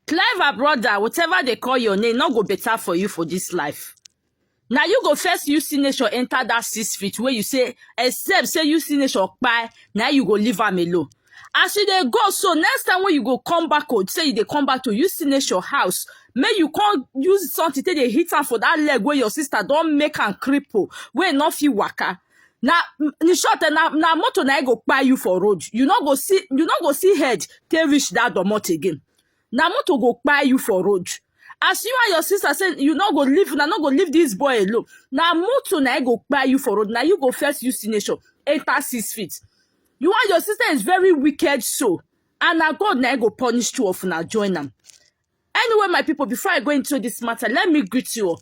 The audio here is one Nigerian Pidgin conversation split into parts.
Clever brother, whatever they call your name, not go better for you for this life. Now you go first use signature enter that six feet where you say, except say use signature by, now you go leave am alone. As you dey go, so next time when you go come back, oh, say you dey come back to use signature house, make you come use something take dey hit am for that leg where your sister don make am cripple, where no fit waka. na in short eh, na na motor na e go kpai you for road you no go see you no go see head take reach that domot again na motor go kpai you for road as you and your sister say you no go leave una no go leave this boy alone na motor na e go kpai you for road na you go first use signature enter six feet you and your sister is very wicked so and na god na e go punish two of una join am anyway my people before i go into this matter let me greet you all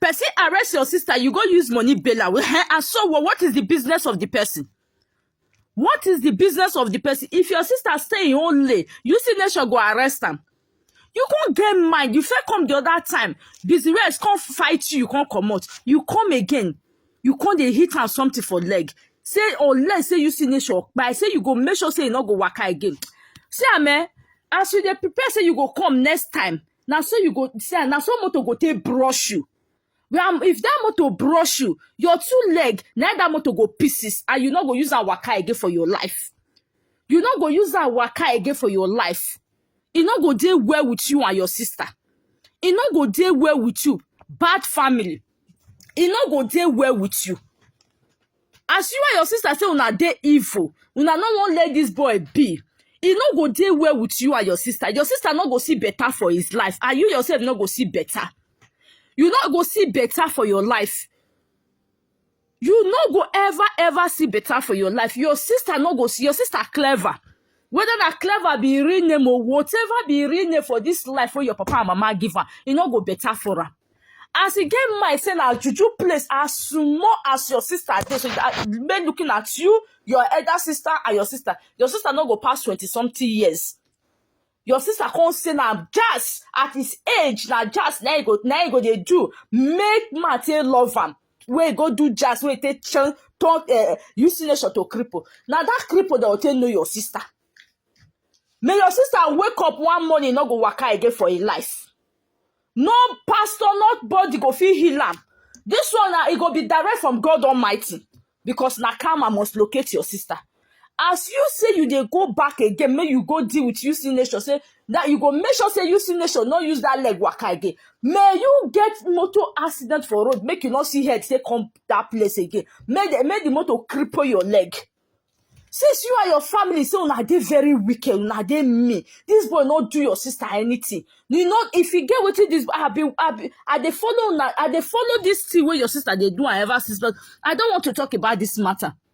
Person arrest your sister, you go use money bail her. Eh, And so what, what is the business of the person? What is the business of the person? If your sister stay in own lay, you see nation go arrest am. You can't get mind. You first come the other time. Busy rest can't fight you. You can't come out. You come again. You can't dey hit am something for leg. Say unless say you see nation, but I say you go make sure say you no go waka again. See am eh, as you dey prepare say you go come next time, na so you go see am na so motor go take brush you and if that motor brush you your two leg na that motor go pieces and you no go use am waka again for your life you no go use am waka again for your life e no go dey well with you and your sister e no go dey well with you bad family e no go dey well with you as you and your sister say una dey evil una no wan let this boy be e no go dey well with you and your sister your sister no go see better for his life and you yourself no go see better you no go see better for your life you no go ever ever see better for your life your sister no go see your sister clever whether na clever be im real name or whatever be im real name for this life wey your papa and mama give am e no go better for am as e get mind say na juju place as small as your sister dey so that men looking at you your elder sister and your sister your sister no go pass twenty something years your sister come say na jazz at his age na jazz na he go na he go dey do make man take love am wey go do jazz wey take turn turn uh, use nation to cripple na that cripple dem go take know your sister may your sister wake up one morning no go waka again for im life no pastor not body go fit heal am this one na e go be direct from god almighty because na karma must locate your sister as you say you dey go back again make you go deal with uc nation say that you go make sure say uc nation no use that leg waka again may you get motor accident for road make you no see head say come that place again make the make the motor cripple your leg since you and your family say una dey very wicked una dey mean this boy no do your sister anything you know if you get wetin this i be i be i dey follow una i dey follow this thing wey your sister dey do and ever since but i don want to talk about this matter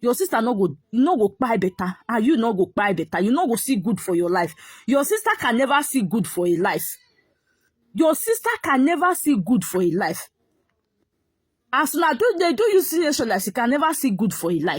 your sister no go no go kpai better and you no go kpai better you no go see good for your life your sister can never see good for a life your sister can never see good for a life as una do dey do you seriously like she can never see good for a life